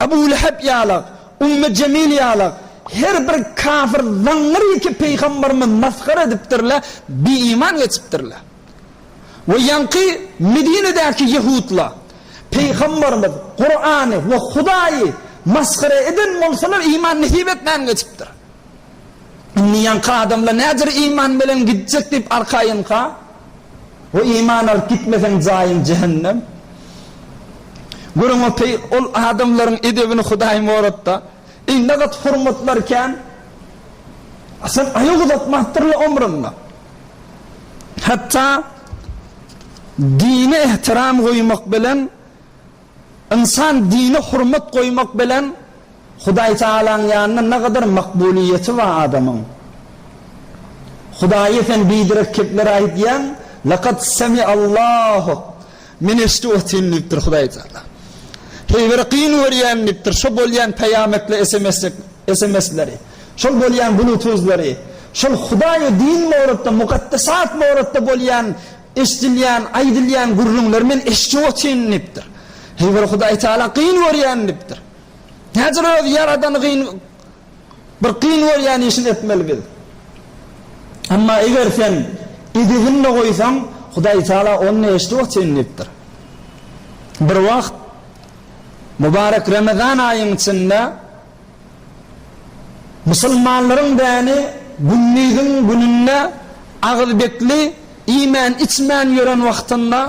Abu Lehep ýala, Ummu Jemil ýala her bir kafir zaňňyr-ýeke Pygamberimiz masgara edipdirler, bi-iman geçipdirler. We ýaňky Medinedäki ýehudlar Pygamberimiz, Kurany we Hudaýy masgara eden bolsalar iman nesip etmän geçipdir. Indi ýaňky adamlar näder iman bilen gitjek diýip arkaýynka. We iman alyp gitmeseň jaýyň jähennem. Görüň otaý ol adamlaryň edebini Hudaý moratda. Eý nagat hormatlar kän. Sen aýak uzatmapdyrla omrunda. Hatda dine ehtiram goýmak bilen Ynsan dine hormat goýmak bilen Hudaý Tagalaň ýanynda nagadar makbulyýeti bar adamyň. Hudaýa sen biderek kepler aýdýaň, Lekad semi Allahu, Men eşdip otyryn diýipdir Hudaý Tagala. Heý bir gyn görýän diýipdir, şo bolýan peýametli esemesleri, şol bolýan bulutuzlary, şol Hudaý we din borada, mukaddesat borada bolýan Eşdilýän, aýdylýan gürrüňleri men eşje otyn diýipdir. Heý bir Hudaý Taala gyn görýän diýipdir. Nädür öz ýaradany gyn bir gyn görýän işini etmeli biz. Emma eger sen edebini goýsaň Hudaý Taala ony eşde otyn diýipdir. Bir wagt Mubarek Ramazan aýyň içinde Musulmanlaryň däni gündiziň gününde agyzbekli iýmän-içmän ýören wagtynda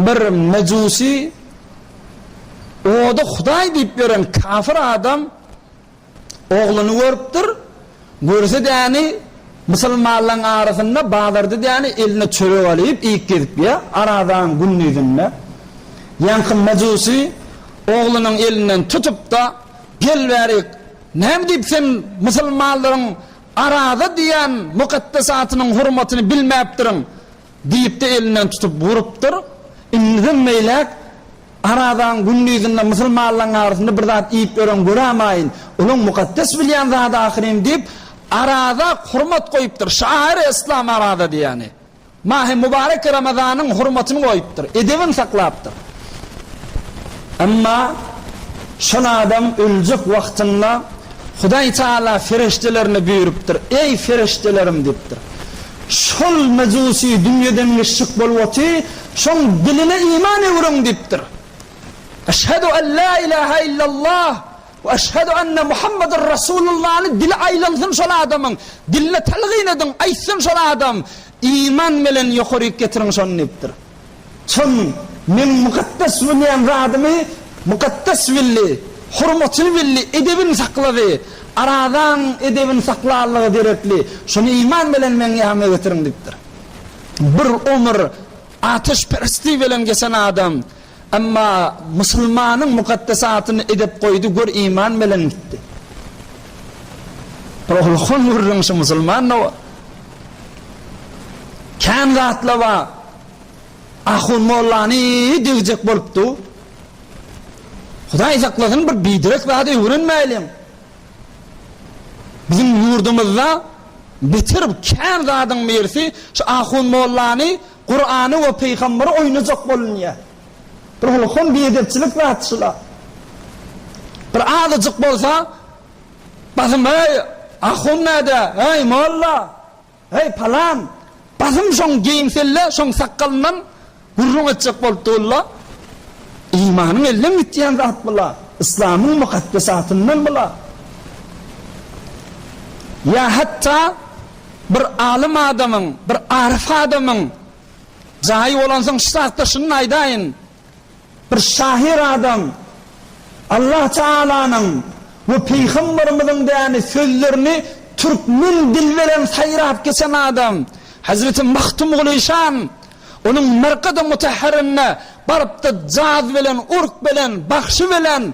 bir mejusy ody hudaý diýip ýören kafir adam ogluny görüpdir. Görse däni musulmanlaryň arasynda bazarda däni eline çörek alyp iýip gezipýär, arazaň gündizinde. Ýaňky majusy oglunyň elinden tutup-da, Gel bärik, näme diýip sen musulmanlaryň araza diýen mukaddes atynyň hurmatyny bilmäpdirin? diýip-de elinden tutup urupdyr. Indi meýläk Arazaň gündizinde musulmanlaryň arasynda bir zat iýip ýören görämaýyn, olaň mukaddes bilýän zady ahyryn diýip, araza hormat goýupdyr. Şahyr Eslami araza diýýäni, mahy mubarek Ramazanyň hormatyny goýupdyr, edebini saklapdyr. Emma şol adam öljek wagtynda Hudaý Tagala fereşdelerine buýrupdyr, Eý, fereşdelerim! diýipdir. Şol mejusy dünýeden geçjek bolup oty, Şoň diline iman öwrüň diýipdir. Eşhedü en la ilahe illallah we eşhedü enne Muhammeden Resulullany dili aýlansyn şol adamyň, diline telgin ediň, aýtsyn şol adam, iman bilen ýokaryk getiriň şony diýipdir. Soň meň mukaddes bilýän zadymy mukaddes bildi, hormatyny bildi, edebini saklady, arazaň edebini saklanlygy derekli, şony iman bilen meň ýanyma getiriň diýipdir. Bir omur ateşperestlik bilen geçen adam, emma musulmanyň mukaddes atyny idep goýdy, gör iman bilen gitdi. Bir oglukon gürrüň şu musulmanda bar. Kän zatla bar. Ahun mollany degjek bolupdy. Hudaý saklasyn bir biderek zady öwrenmäýliň. Biziň ýurdumyzda beter kän zadyň birisi şu ahun mollany Kurany we pygamberi oýnajak bolunýa. Bir holkom biedepçilik zat şula. Bir azajyk bolsa basym heý ahun näde heý molla. Heý, palan! Basym şoň geýimselle, şoň sakgalyndan gürrüň etjek bolup dygylda. Imanyň elden gitýän zat bu-la, yslamyň mukaddesatyndan bu-la. Ýa hatda bir alym adamyň, bir aryf adamyň jaýy bolansoň, şu zatda şuny aýdaýyn. Bir şahyr adam Allah Taalanyň we Pygamberimiziň däni sözlerini türkmen dil bilen saýrap geçen adam Hazreti Magtymguly şan onuň Merkady Mutahharynda barypda jaz bilen urk bilen bagşy bilen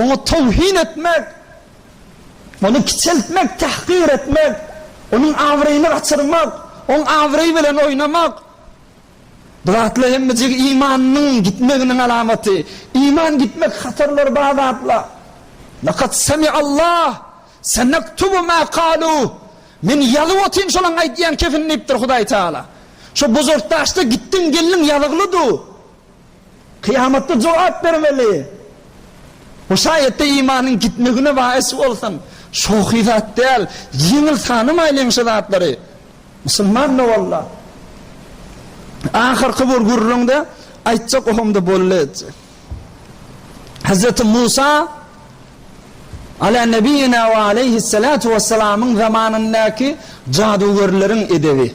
Oňa towhin etmek, ony kiçeltmek, tahkyr etmek, onuň abraýyny gaçyrmak, oň abraýy bilen oýnamak, bu zatlar hemmejik imanynyň gitmeginiň alamaty. Iman gitmek hatarlary bar zatlar. Lekad semi'Allah, senektubu ma kalu, Men ýazyp otyryn şolaň aýdýan kefini diýipdir Hudaý Tagala. Şo bozortdaşda gitdiň geldiň ýazygly du. Kyýamatda jogap bermeli. Bu şaýatda imanyň gitmegine bais bolsaň, şohy zat däl, ýeňil sanamaýlyň şu zatlary. Musulman nowalla. Ahyrky bir gürrüňde aýtjak ohamda boldy etjek. Hazreti Musa Ala nebiyyina we aleyhissalatu vesselamyň zamanyndaky jadugerleriň edebi.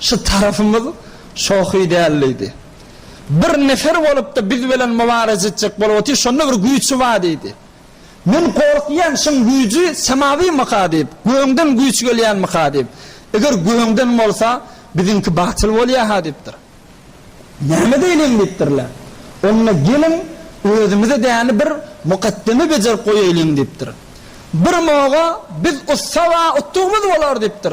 Şu tarapymyz şohy däl diýdi. Bir nefer bolup-da biz bilen mubareze etjek bolup otyr, şonda bir güýçi bar diýdi. Men gorkýan şuň güýji semawymyka diýip, gögden güýç gelýänmika diýip. Eger gögden bolsa, biziňki batyl bolýa-ha diýipdir. Näme edeýliň diýipdirler. Onda geliň, özümize däni bir mukaddeme bejerip goýaýlyň diýipdir. Bir moga biz ussa-a utdugymyz bolar diýipdir.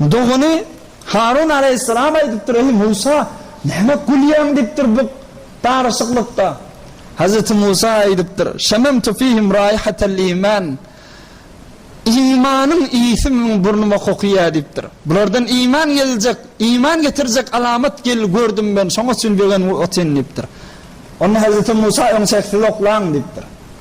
Dogany Harun alaýhyssalam aýdypdyr, Eý, Musa, näme gülýäň? diýipdir bu garaşyklykda. Hazreti Musa aýdypdyr, Şememtu fihim raýhatal iman, Imanyň ysy meň burnuma kokýar diýipdir. Bulardan iman geljek, iman getirjek alamat gel gördüm men, şoňa üçin begenip otyryn diýipdir. Onda Hazreti Musa, Öň çeksiz oklaň diýipdir.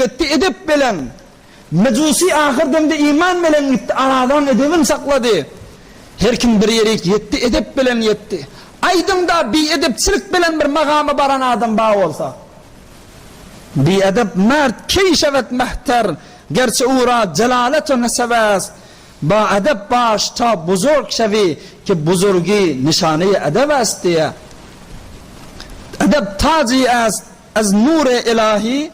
Gitdi edep belen. Mejusi ahyr demde iman belen gitdi, aradan edebin saklady. Her kim bir ýerik ýetdi, edep belen ýetdi. Aýdyň-da, biedepçilik belen bir magama baran adam bar bolsa? Biedep mert, keýşebet mehter, gerçi ura jelaleto nesebes. Ba edep baş ta buzurg şewi ki buzurgi nişaneyi edebes diýýär. Edep taji est. Ez nure ilahi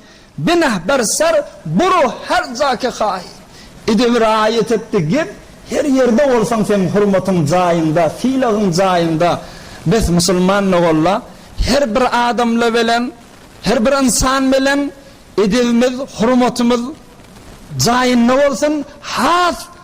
bineh ber ser buru her ja ke hayi. Edebi raýat etdi gep her ýerde bolsaň seň hurmatyň jaýyňda sylagyň jaýyňda bes musulman nogolla her bir adamla belen her bir ynsan belen edebimiz hurmatymyz jaýynda bolsun has